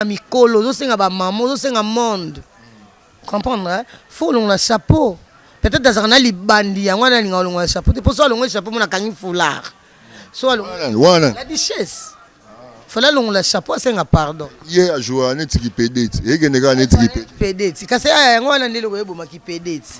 ba mikolo ozo senga ba maman ozo senga monde comprendre hein? faut olongola chapeau peut-être azalaka na libandi yango wana alinga olongola chapeau te mpo so alongoli chapeau mona akangi foulard so wana la duchesse fale alongola chapeau asenga pardon ye ajoua neti kipedeti ekende kaka neti kipedeti kasi yango wana nde eloko eboma kipedeti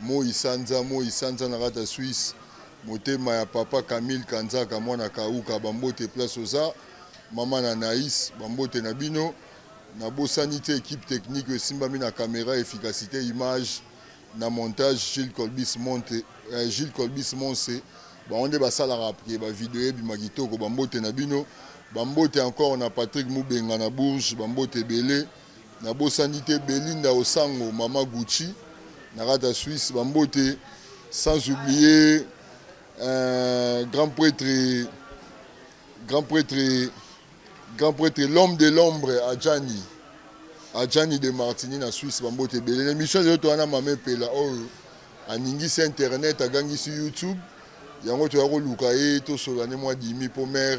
Moyi sanza moyi sanza na kati ya Suisse motema ya papa Camille Kanzaka mwana Kauka ba mbote place oza Maman Anais ba mbote na bino na bosani te equipe technique oyo esimbami na camera efficacite image na montage Jules Colbis Monte eh, Jules Colbis Monse bango nde basalaka pke ba video ebima kitoko ba mbote na bino ba mbote encore na Patrick Mubenga na Bourges ba mbote ebele Nabosani te Belinda Osango maman Gucci na kati ya Suisse ba mbote sans oublier euh, grand pretre grand pretre grand pretre l'homme de l'ombre Adjani Adjani de Martini na Suisse ba mbote ebele na émission ezo toana mama epela oyo aningisi internet agangisi YouTube yango toya koluka ye tosola ne mwa dimi po mère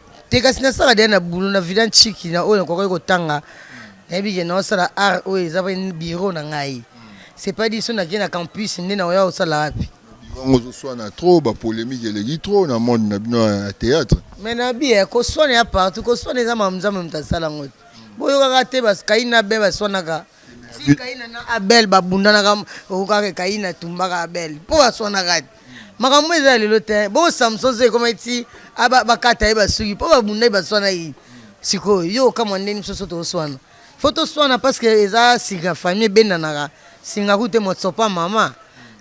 te kasi nasala deya na boulot na vida nciki na oyo nakokaki kotanga nayebi ke naosala art oyo eza bureau na ngai c'est pas dit so nake na campus nde naoya osala wapi bango ozoswana trop bapolémique eleki trop na monde na bino ya théâtre mais na biye koswana ya partout koswana eza makambo nzambe moto asala yango te boyokaka te kaini na abel baswanaka kaina na abel babundanaka okokaka kaina atumbaka abel mpo baswanaka te makambo eza ya lelo te bongo samson zo ekoma eti bakata ye basuki mpo babunda ye baswana ye sikoyo yo okamwa ndeni biso so toswana fo toswana parce que eza sika famille ebendanaka singa kute motsopa mama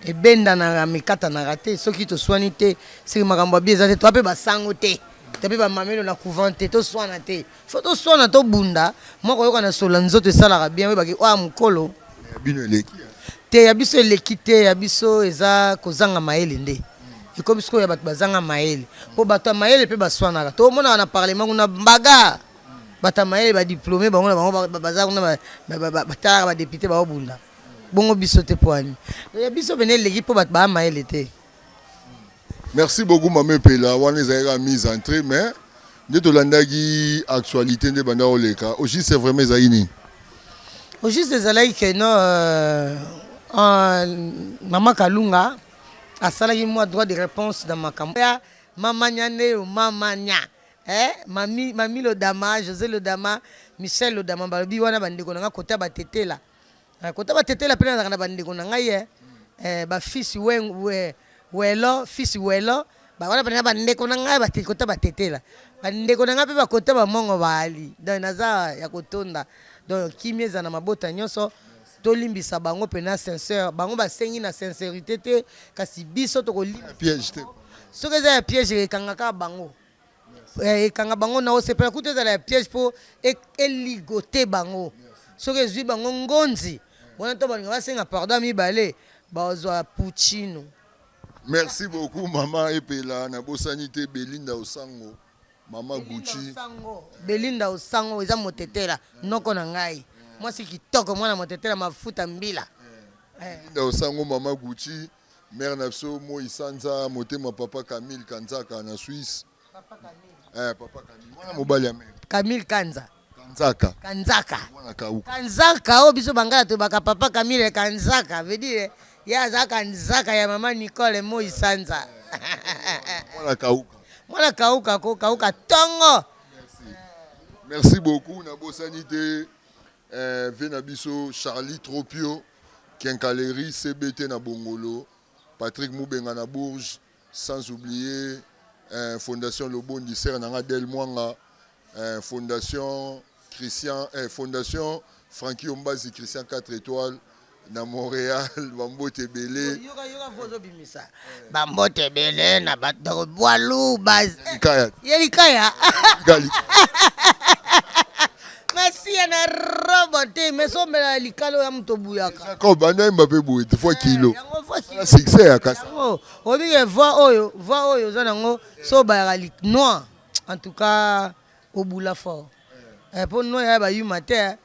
ebendanaka mikatanaka te soki toswani te soki makambo ya bi eza te toa mpe basango te toa mpe bamamelo na couvent te toswana te Faut to swana to bunda moko yoka na solo nzoto esalaka bien oyeba ki oa mukolo. Ya bino eleki hein. Te ya biso eleki te ya biso eza kozanga mayele nde ekomi sikoyo ya bato bazanga mayele mpo bato ya mayele mpe baswanaka tomonaka na parlement kuna baga bato ya mayele badiplome bango na bango baza kuna batalaka badepute baobunda bongo biso te mpo ani ya biso pene eleki mpo bato baa mayele te Merci beaucoup maman epela wana ezali kaka mise en trait mais nde tolandaki actualite nde banda oleka au juste c'est vraiment ezalaki nini au juste ezalaki que non euh, euh, mama kalunga asalaki mwa droit de réponse na makambo ya mamanya nde yo mamanya eh, mami, mami lodama josé lodama michel lodama balobi wana bandeko na nga kota batetela Eh, kota batetela mpe nazalaka na bandeko na ngai eh, eh, bafisi welo fisi welo wana mpena bandeko na ngai kota batetela bandeko na ngai mpe bakota bamongo baali donc naza ya kotonda donc kimia eza na mabota nyonso tolimbisa bango mpena sincere bango basengi na sincerité te kasi biso tokolimbisa soki eza ya piège ekangaka bango Eh, ekanga bango na osepela kutu ezala ya piège mpo e- eligote bango soki ezwi bango ngonzi wana to balinga basenga pardon ya mibale bazwa puccino Merci beaucoup maman Epela na bosani te Belinda Osango, maman Gucci. Sango, belinda osango eza motetela noko na ngai mwasi kitoko mwana motetela mafuta mbila Belinda Osango, maman Gucci. Mère na biso moi sanza motema papa Camille Kanzaka na Suisse. Papa Camille. Eh papa Camille. Mwana mobali ya mère. Camille Kanza. Kanzaka. Kanzaka. Mwana kauka. Kanzaka oh biso bangala to baka papa Camille Kanzaka veut dire ya za Kanzaka ya maman Nicole moi sanza. Mwana kauka. Mwana kauka ko kauka tongo. Merci. Merci beaucoup na bosani te eh, vie na biso Charlie Tropio. Quincaillerie CBT na Bongolo, Patrick Mubenga na Bourges, sans oublier eh, Fondation Lobondi, sœur na nga Del Mwanga, eh, Fondation Christian, eh, Fondation Francky Ombazi, Christian 4 étoiles na Montréal, ba mbote ebele. Yoka yoka vozo bimisa. Ba mbote ebele na ba ndeko Bwalu ba Likaya. ye likaya. Gali. Masiya na robo te mais sombela likalo ya moto buyaka. Ko banda yemba pe boye te fois kilo. Yango voix ki- Na succès ya kasa. yango oyebi ke voix oyo voix oyo oza nango so obayaka lik noir en tout cas obula fort. eh, po noix ya ba yuma te eh,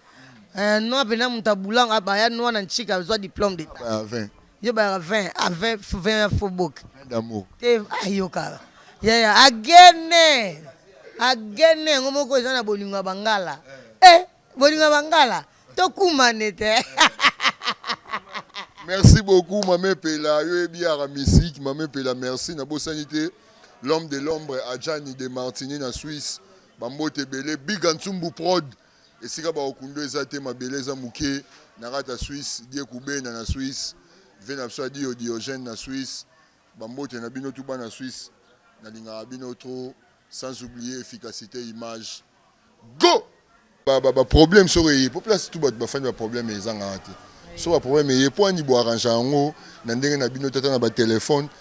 eh noix pena mutu abulanga ba ya noix na nchika zwa diplôme d'état ah, ba 20 yo ba 20 à 20 20 ya fobok d'amour te ayokaka ah, ya ya agene agene yango moko eza na bolingo ya bangala eh bolingo ya bangala tokumane te merci beaucoup mame pela yo yebi yaka musique mame pela merci nabosani te l'homme de l'ombre adjani de martini na suisse Ba mbote ebele big and sumbu prod esika ba okundo eza te mabele eza muke na kati ya suisse die kubena na suisse vie na biso adiyo diogène na suisse ba mbote na bino tout bana suisse na lingaka bino trop sans oublier efficacite image go ba ba ba problème soko eye po place tout bato bafandi ba problème ezangaka te so ba problème eye po ani bo arrangea yango na ndenge na bino tata na ba telephone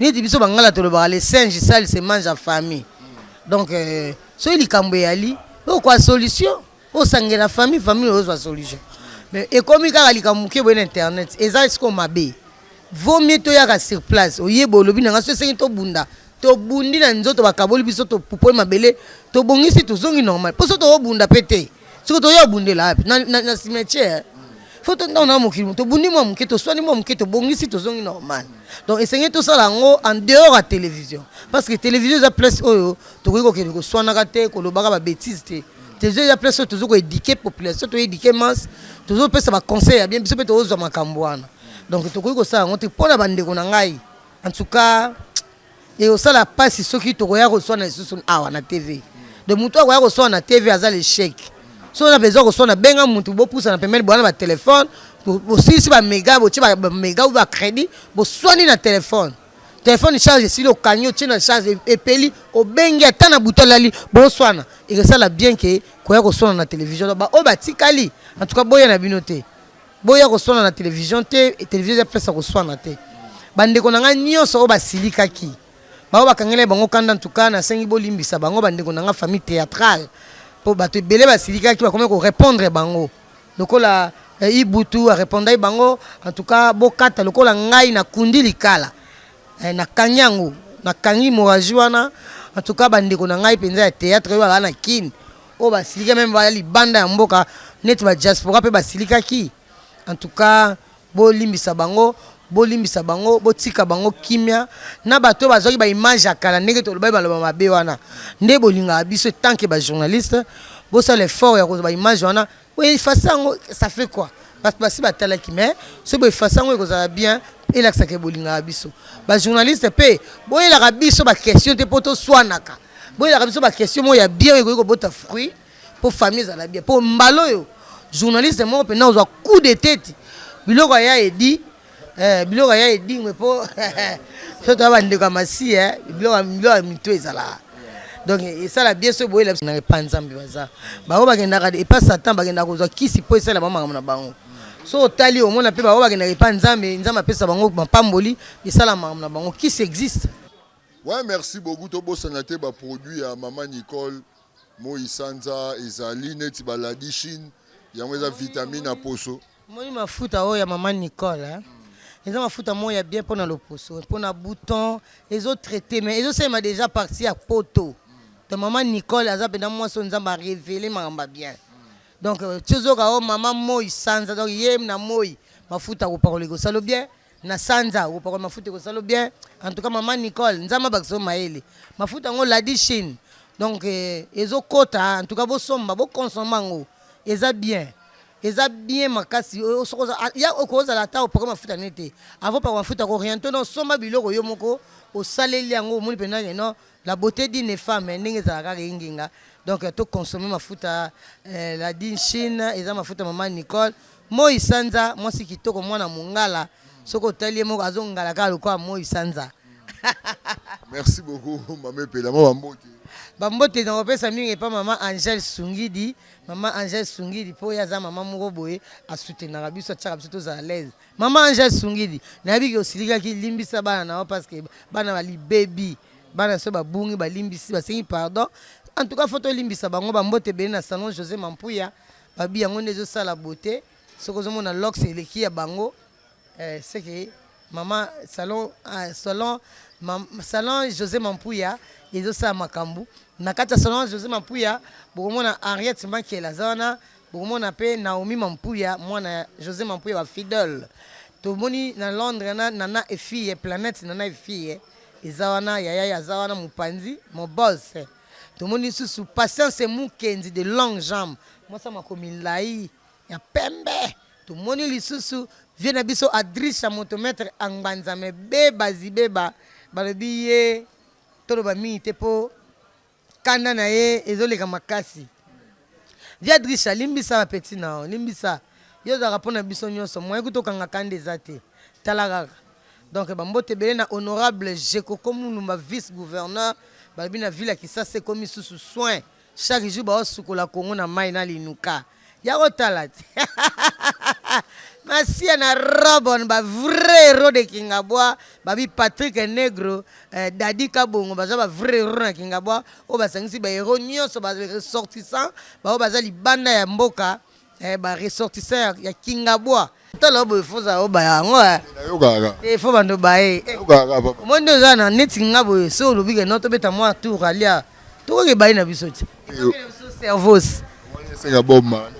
Neti biso bangala tolobaka le singe sale se mange en famille. Donc euh, soki likambo eyali okwa solution osangela famille famille ozwa solution. Mais ekomi kaka likambo moke boye na internet eza sikoyo mabe. Vaut mieux toyaka sur place oyeba olobi na ngai soki esengi tobunda tobundi na nzoto bakaboli biso topupoli mabele tobongisi tozongi normal mpo soki tokobunda mpe te soki toya obundela wapi na cimetière fo tontango na mokili tobundi mwa moke toswani mwa moke tobongisi tozongi normal donc esengeli tosala yango en dehors ya télévision parce que télévision eza place oyo tokoki kokende koswanaka te kolobaka babétise te télévision eza place oyo tozo koédike population toédike masse tozopesa baconseil ya bien biso mpe tozozwa makambo wana donc tokoki kosala yango te mpo na bandeko na ngai en tout cas Ekosala pasi soki tokoya koswana lisusu awa na TV. Donc mutu oyo akoya koswana na TV aza l'echec. Soki oza na besoin ya koswana benga mutu bopusana pembeni boya na ba telephone bosilisi ba mega botie ba mega ou ba credit boswani na telephone. Telephone charge esili okangi otie na charge epeli obengi ata na butu alali boswana ekosala bien que koya koswana na television. Donc ba oyo batikali en tout cas boya na bino te. Boya koswana na television te, television eza place ya koswana te. Ba ndeko na ngai nionso oyo basilikaki, ba oyo bakangelaki bango kanda, en tout cas nasengi bolimbisa bango, ba ndeko na ngai famille theatrale, po batu ebele basilikaki bakomaki ko repondre bango lokola Ibutu a repondaki bango, en tout cas bokata lokola ngai nakundi likala, eh nakangi yango, nakangi hemorragie wana, en tout cas ba ndeko na ngai penza ya theatre oyo baza na kin, oyo basilika meme baya libanda ya mboka neti ba diaspora mpe basilikaki en tout cas bolimbisa bango bolimbisa bango botika bango kimia na bato oyo bazwaki baimage ya kala ndenge tolobaki baloba mabe wana nde bolingaka biso tanke bajournaliste bosala effort ya kozwa baimage wana Bo effacer yango ça fait quoi? Batu basi batalaki mais soki bo effacer yango ekozala bien elakisa ke bolingaka biso. Ba journalistes pe boyelaka biso ba questions te po toswanaka. Boyelaka biso ba questions moko ya bien oyo ekoki kobota fruit po famille ezala bien po mbala oyo journaliste moko pena ozwa coup de tete biloko ya Eddy Eh, biloko ya edingwe po so toya bandeko ya masi eh, biloko biloko ya mitu ezalaka donc esala bien so boyela biso na epa nzambe baza bango bakendaka epa satan bakendaka kozwa kisi mpo esala bango makambo na bango so otali omona mpe bango bakendaka epa nzambe nzambe apesa bango mapamboli esala makambo na bango kisi existe Ouais, merci beaucoup. Tobosana te ba produits ya Mama Nicole. Moyi sanza ezali neti ba ladishine yango eza vitamine ya poso. Omoni mafuta oyo ya maman Nicole hein? Eza mafuta moko ya bien pona loposo, pona bouton, ezo traite mais ezo salema dejà partie ya poto. Donc maman Nicole aza penza mwasi oyo Nzambe a reveler makambo ya bien. Donc ti ozoyoka oh maman Moyi sanza donc ye na moyi mafuta akopakola ekosala yo bien. na sanza okopakola mafuta ekosalo bien en tout cas maman nicole nzambe abakisa yo mayele mafuta yango ladi chine donc eh, ezokota en tout cas bosomba bokonsombe yango eza bien eza bien makasi oyo soki oza- a- ya okoki ozala ata opaka mafuta ne te avant opaka mafuta ko oriente no osomba biloko yo moko osaleli yango omoni mpenza ke no La beaute d'une femme ndenge ezalaka kaka engenga donc to consommer mafuta eh, la dine chine eza mafuta mama Nicole moi sanza mwasi kitoko mwana mongala soki otali ye moko azongala kaka lokola moi sanza merci beaucoup mama epela mwa bambote bambote nakopesa mingi epa mama angel sungidi mama angel sungidi mpo ye aza mama moko boye asutenaka biso atiaka biso tozala laise Maman Angèle Sungidi, nayebi ke osilikaki, limbisa bana na yo parce que bana ba libebi, bana so babungi, balimbisi, basengi pardon. En tout cas, faut tolimbisa bango ba mbote ebele na salon Jose Mampuya, babi yango nde ezosala beauté. Soki ozomona locks eleki ya bango, eh, c'est que maman salon ah, salon mam, salon Jose Mampuya ezosala makambo. Na kati ya salon Jose Mampuya, bokomona Henriette Mankela aza wana, Bokomona pe Naomi Mampuya mwana ya Jose Mampuya ba fidele tomoni na Londres na Nana et fille planète Nana et fille eza wana yaya ye aza wana mopanzi mon boss tomoni lisusu Patience Mukendi de longue jambe mwasi ya mako milayi ya pembe tomoni lisusu vieux na biso Adrisha moto maitre a ngbanzame beba zibeba balobi ye toloba mingi te po Kanda na ye ezo leka makasi. Via Drisha limbisa ba petit na yo limbisa yo ozalaka pona biso nionso moyen kutu okanga kanda eza te tala kaka donc ba mbote ebele na honorable Jekoko Mulumba vice gouverneur balobi na ville ya kisasa ekomi susu soin chaque jour bao sukola Congo na mayi na linuka ya kotala te masiya na robon ba vrai héros de kingabwa babi patrick negro eh, dadi kabongo baza ba vrai héros na kingabwa oyo basangisi ba héros nyonso ba ressortissant baoyo baza libanda ya mboka eh, ba ressortissant ya, ya kingabwa Tala obo faut za oba yango eh. Nayoka kaka. Eh faut bando baye. Eh. Nayoka kaka papa. Moi ndio za na neti nga boye so lobi ke noto beta moi tour alia. Toko ke baye na biso ti. Cervos. Moi senga bomba.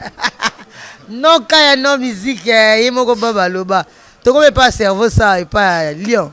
Non kaya non musique eh, ye moko baba loba. Toko be pas cerveau ça et pas lion.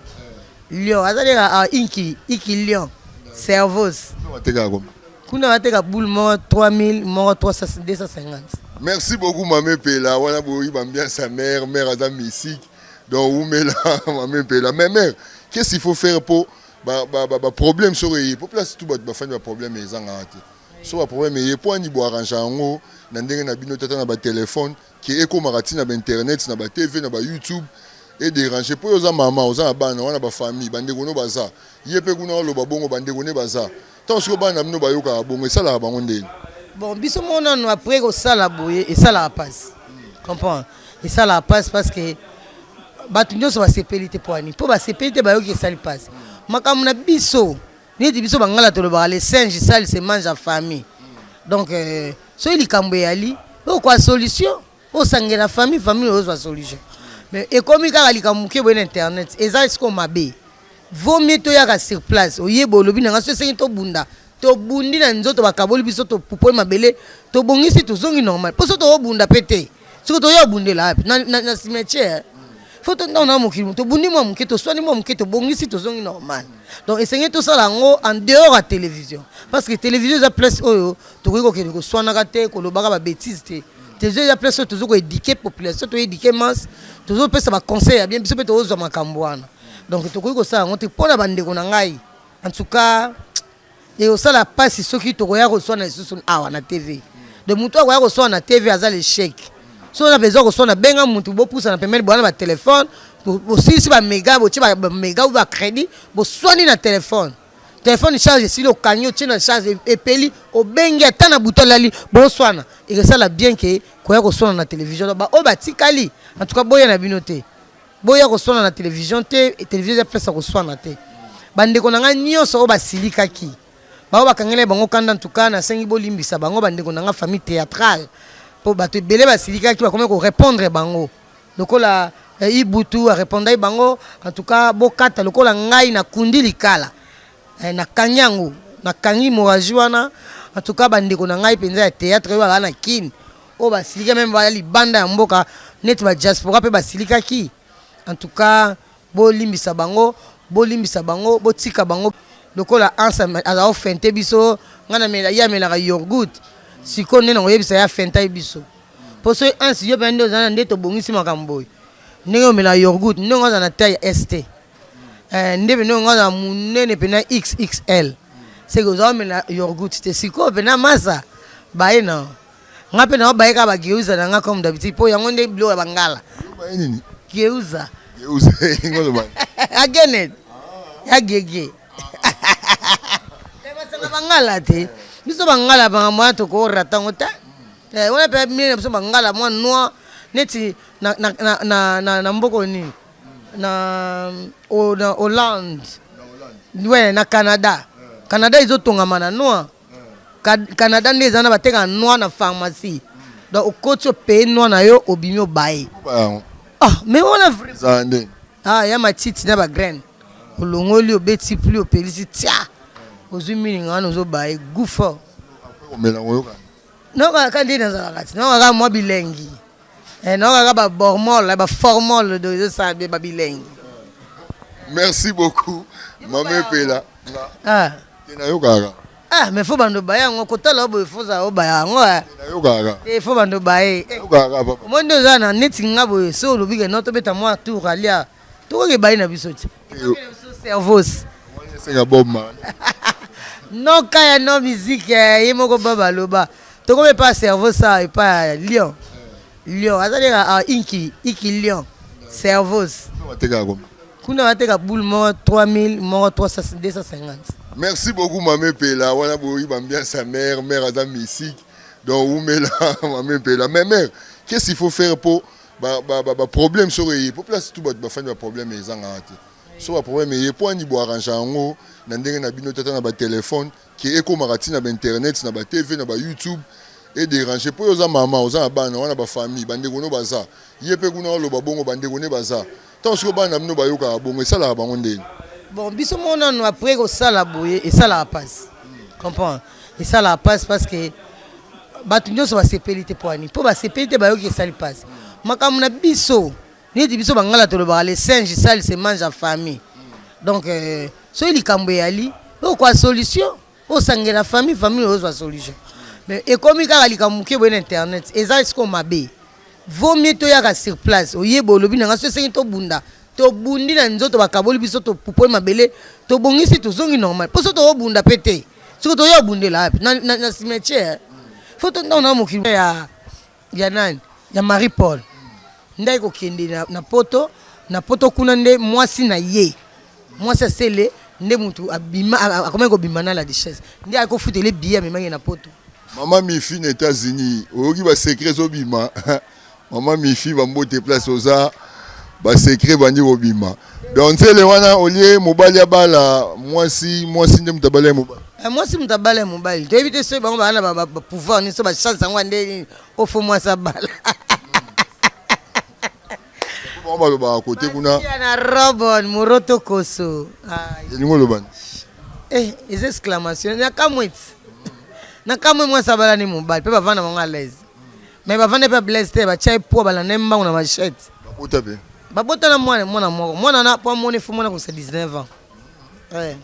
Lion azali ka ah, inki iki lion. Cervos. Toko teka komba. Kuna bateka boule moko 3000 moko 250. Merci beaucoup mame pela wana boyi bambiance ya mère mère aza mystique donc wumela mame pela mais mère qu'est-ce qu'il faut faire po ba ba ba, ba problème soko eye po place tout bato bafandi ba problème ezanga te so ba problème eye po ani bo arrange yango na ndenge na bino tata na ba téléphone que ekomaka ti na ba internet na ba TV na ba YouTube e deranger po yo oza maman oza na bana wana ba famille ba ndeko no baza ye pe kuna oloba bongo ba ndeko ne baza tango sikoyo bana na bino bayokaka bongo esalaka bango ndeni? Bon biso moko nanu après kosala boye esalaka pasi comprendre esalaka pasi parce que batu nionso basepeli te po ya nini po basepeli te bayoki esali pasi makambo na biso neti biso bangala tolobaka le singe sale se mange en famille donc euh, soki likambo eyali okwa solution osangela famille famille ozwa solution mais ekomi kaka likambo moke boye na internet eza sikoyo mabe vaut mieux toyaka sur place oyeba olobi na ngai so esengi tobunda tobundi na nzoto bakaboli biso topupoli mabele tobongisi tozongi normal mpo so tokobunda mpe te soki toya obundela wapi na cimetière fo tontango na mokili mo tobundi mwa moke toswani mwa moke tobongisi tozongi normal donc esengeli tosala yango en dehors ya télévision parce que télévision eza place oyo tokoki kokende koswanaka te kolobaka babétise te télévision eza place oyo tozo koédike population toédike masse tozopesa baconseil ya bien biso mpe tozozwa makambo wana donc tokoki kosala yango te mpo na bandeko na ngai en tout cas Ekosala pasi soki tokoya koswana lisusu awa na TV. Donc mutu oyo akoya koswana na TV aza l'echec. Soki oza na besoin ya koswana benga mutu bopusana pembeni boya na ba telephone bosilisi ba mega botie ba mega ou ba credit boswani na telephone. Telephone charge esili okangi otie na charge epeli obengi ata na butu alali boswana ekosala bien que koya koswana na television donc ba oyo batikali en tout cas boya na bino te. Boya koswana na television te, television eza place ya koswana te. Ba ndeko na ngai nionso oyo basilikaki, ba oyo bakangelaki bango kanda en tout cas nasengi bolimbisa bango ba ndeko na ngai famille theatrale po batu ebele basilikaki bakomaki ko repondre bango lokola Ibutu a repondaki bango en tout cas bokata lokola ngai nakundi likala nakangi yango nakangi hemorragie wana en tout cas ba ndeko na ngai penza ya theatre oyo bazalaka na kin oyo basilika meme baya libanda ya mboka neti ba diaspora mpe basilikaki en tout cas bolimbisa bango bolimbisa bango botika bango lokola ansa aza ofente biso ngai namela ye amelaka yorgut sikoyo nde nakoyebisa ye afenta ye biso mpo soki ansi yo mpenza nde oza na nde tobongisi makambo boye ndenge omelaka yorgut ndenge aza na taille st eh, nde mpenza onga aza monene mpenza xxl seke oza omela yorgut te sikoyo mpenza masa baye na Nga mpe na baye kaka ba geuza na nga comme d'habitude mpo yango nde biloko ya bangala. Baye nini? Geuza. Geuza elingi oloba. Ya Genet. Ya Gege. Basanga bangala te. Biso bangala banga moya toko rata ngo te. Eh, wana mpe mine na biso bangala mwa noir neti na, na, na, na, na, na mboko nini na, o, na hollande ouais, na canada canada ezotongama na noir Canada nde eza na bateka noix na pharmacie donc okoti opeye noix na yo obimi obaye ah, mais wana vrai ah, ya matiti na bagraine olongoli obeti pli opelisi tia ozwi milinga wana ozobaye gout fort nayoka kaka nde nazalaka ti nayoka kaka mwa bilengi Eh, non, kaka ba bormol, ba formol do ezo sa ba bilingue. Merci beaucoup. Maman Pela. Ah. Tena yo kaka. Ah, mais faut bando ba yango kotala obo faut za oba yango. Eh. Tena yo kaka. Eh, faut bando ba eh. Yo kaka papa. Moi ndo za na neti ngabo so lobi ke noto beta moi tour alia. tokoki ebai na biso ti cervos senga bob man non kaya non musique eh, ye moko bob aloba tokomi epa cerveau sa epa lion lion azali ka ah, inki iki lion cervos kuna bateka boule moko 3000 moko 250 merci beaucoup mame pela wana boyi bambiance ya mare mare aza mystique donc wumela mame pela mais mare qu'est ce qu'il faut faire mpo Ba, ba, ba, ba problème soko eye po place tout bato bafandi ba problème ezangaka te so ba problème eye po ani bo arrangea yango na ndenge na bino te ata na ba telephone ke ekomaka ti na ba internet na ba TV na ba youtube e deranger po yo oza mama oza na bana wana ba famille bandeko no baza ye pe kuna oloba bongo bandeko ne baza Ntango sikoyo bana na bino bayokaka bongo, esalaka bango ndeni? Bon, biso moko nanu après kosala boye esalaka pasi comprendre, esalaka pasi parce que bato nyonso basepeli te poani mpo basepeli te bayoki esali pasi makambo na biso neti biso bangala tolobaka le singe sale se mange en famille donc euh, soki likambo eyali okwa solution Osangela famille famille ozwa solution. Mais ekomi kaka likambo moke boye na internet eza sikoyo mabe. Vaut mieux toyaka sur place oyeba olobi na ngai soki esengi tobunda tobundi na nzoto bakaboli biso topupoli mabele tobongisi tozongi normal mpo soki tokobunda mpe te soki toya obundela wapi na cimetière fo tontango na mokili ya Ya nani? Ya Marie Paul nde aye kokende na poto, na poto kuna nde mwasi na ye, mwasi ya Sele nde mutu abima, akomaki kobima na la Duchesse, nde aye kofutela ye billet amemaki ye na poto. Maman mifi na etats unis oyoki ba secret ezo bima maman mifi ba mbote place oza. ba secret ebandi kobima donc nzele wana olie mobali abala mwasi mwasi nde moto abala ye mobali eh, mwasi moto abala ya mobali toyebi te soki bango baa na bapouvoir nini so bachance yango ande nini ofo mwasi abala bango balobaka kote kuna na robon moroto koso elingi olobani eh, eza exclamation nakamwe ti nakamwe mwasi abala ni mobali mpe bavanda bango alaise Mais bavanda epai ya Blaise te, batya ye poids, balanda ye mbangu na machette. Babota mpe? Babota na mwana, mwana moko. Mwana wana mpo amoni fo mwana akosa 19 ans. Eh.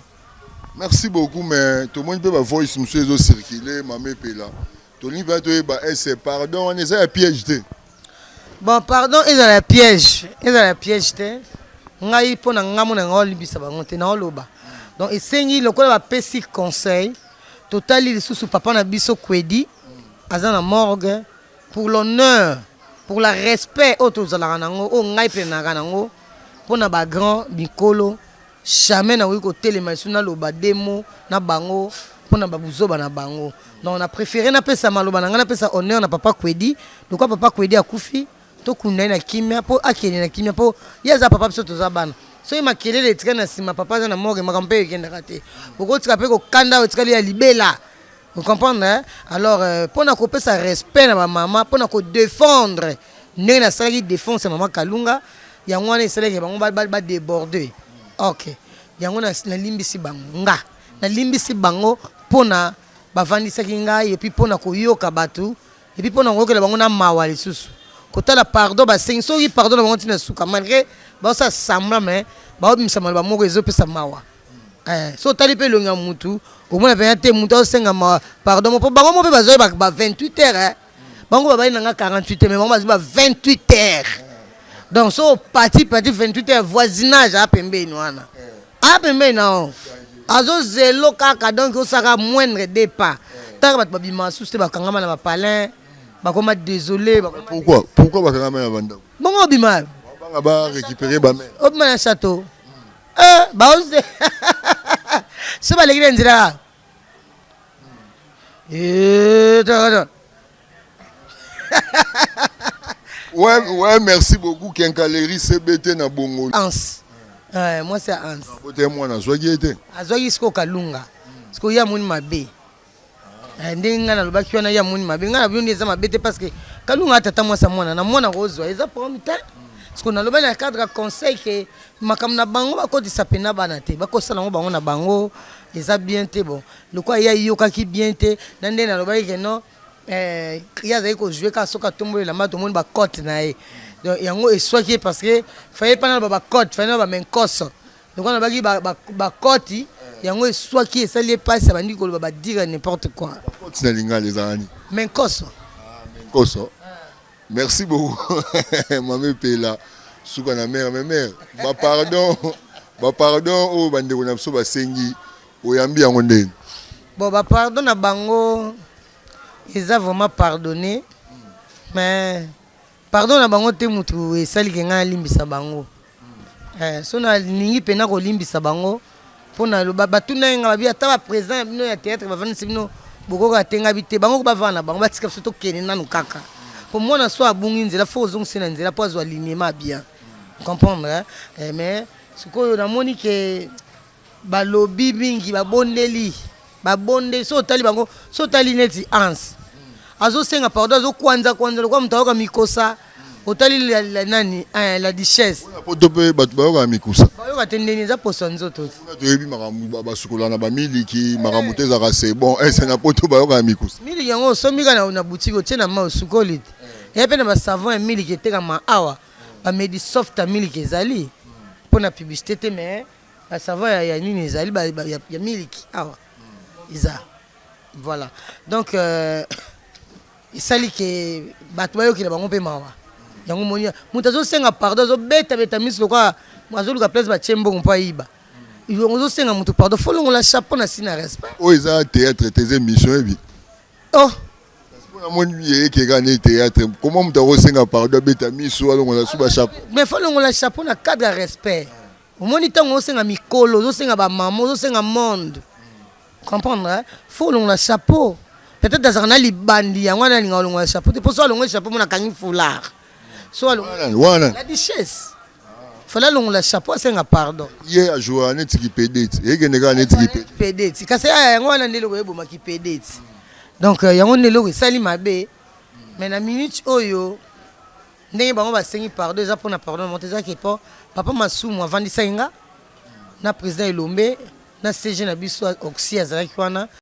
Merci beaucoup, mais tomoni mpe ba voice mosusu ezo circuler, mama epela. Tolingi mpenza toyeba ese pardon wana eza ya piège te? Bon, pardon ezala ya piège, ezala ya piège te. Ngai mpo na ngai mona ngai olibisa bango te, naoloba. Donc esengi lokola bapesi conseil, totali lisusu papa na biso Kwedi aza na morgue pour l'honneur pour la respect oyo tozalaka nango oyo ngai mpe naka nango mpo na ba grand mikolo jamais nakoki kotelema lisusu naloba demo na bango mpo na babuzoba na bango donc na préféré napesa maloba na ngai napesa honneur na papa kwedi lokwa papa kwedi akufi tokunda ye na kimia mpo akende na kimia mpo ye aza papa biso toza bana soki makelele etikali na nsima papa aza na morgue makambo mpe ekendaka te bokotika mpe kokanda oyo etikali ya libela Vous comprenez hein? Alors euh, pona ko pesa respect na ba mama, pona ko défendre ndenge na salaki défense ya mama Kalunga, yango wana esalaki bango ba, ba, ba déborder. OK. Yango na nalimbisi bango nga. Nalimbisi bango pona bavandisaki ngai et puis pona koyoka bato et puis pona koyokela bango na mawa lisusu. Kotala pardon basengi soki pardon na bango ntina suka malgré baosala semblant mais baobimisa maloba moko ezopesa mawa. Eh, so otali mpe elongi ya mutu okomona mpenza te mutu azosenga ma pardon mpo bango mo mpe bazwai ba 28 heures eh. bango babali na nga 48 heures mais bango bazwi ba 28 heures donc so opati pati 28 heures voisinage a pembeni wana a pembeni na o azozelo kaka donc osaka moindre de pas taka bato babima susu te bakangama na bapalin bakoma désolé pourquoi pourquoi bakangama na bandako bongo obima obima na château Eh, baoze so baleki na nzela kaka Eh, to- to- Ouais, ouais, merci beaucoup Kenkaleri CBT na Bongo. Hans. Eh, mwasi ya Hans. Bote mwana azwaki ye te. azwaki sikoyo kalunga sikoyo ye amoni mabe Eh, ndenge ngai nalobaki wana ye amoni mabe ngai nabi nde eza mabe te parce que kalunga atata mwasi ya mwana na mwana kozwa eza problème te siko nalobaki na cadre ya conseil ke makambo na bango bakotisa mpena bana te bakosala yango bango na bango eza bien te bon lokola ye ayokaki bien te na ndenge nalobaki ke non eh, ye azali kojoue kaka soki atomboli elamba tomoni bacote na ye donc yango eswaki ye parce que faye mpa naloba bacote faye naloba menkoso lokola nabaki bakoti yango eswaki esali ye mpasi abandi koloba badire n'importe quoi bakoti na lingala ezala nini me nkoso ah, nkoso merci beaucoup mame pela suka na mare me mare bapardon bapardon oyo bandeko na biso basengi oyambi yango ndeni bon bapardon na bango eza vraiment pardonne mais Pardon na bango te mutu esali ke ngai nalimbisa bango eh, so nalingi pena kolimbisa bango mpo na loba batuna ye ngai babi ata ba président ya bino ya théâtre bavandisi bino bokoka te ngai bi te bango bavanda na bango batika biso tokende nanu kaka mpo mwana so abungi nzela fo ozongisi na nzela mpo azwa lignema bien comprendre eh, mais sikoyo namoni ke Balobi mingi babondeli babondeli soki otali bango soki otali neti Hans azosenga pardon azo kwanza kwanza lokola moto ayoka mikosa otali nani eh, la duchesse poto mpe bato bayokaka mikusa bayoka te ndeni eza poso ya nzoto te toyebi makambo basukola na bamiliki makambo te ezalaka se bon ese na poto bayokaka mikusa miliki yango osombi kaka na- na butiki otie na mai osukoli te eya mpe na basavon ya miliki etekama awa bamedi soft ya miliki ezali mpo na publicité te mais Ba savon ya ya nini ezali ba ya miliki awa eza voilà donc euh, esali ke bato bayokela bango mpe mawa yango moni moto azosenga pardon azobetabeta miso lokola azoluka place batye mbongo mpo ayiba ozosenga moto pardon fo longola chapeau na si na respect oyo oh, eza théâtre te eza émission yebi oh namoni eyekeka nde théâtre koma moto akosenga pardon abeta miso alongola suba chapeau mais fo longola chapeau na cadre ya respect Omoni tango osenga mikolo, ozosenga ba maman, ozosenga monde. Comprendre hein? Faut olongola chapeau. Peut-être azalaka na libandi yango wana alinga olongola chapeau te. Po so alongoli chapeau mona kangi foulard. So alongoli wana. La duchesse. Fallait alongola chapeau asenga pardon. Ye a joua neti ki pedeti. Ekende kaka neti ki pedeti. Pedeti. Kasi aya yango wana nde eloko eboma ki pedeti. Donc yango nde eloko esali mabe. Mais na minute oyo Ndenge bango ba sengi pardon eza pona pardon na moto eza ke po papa masumu avandisaki nga na president elombe na CG na biso oxy azalaki wana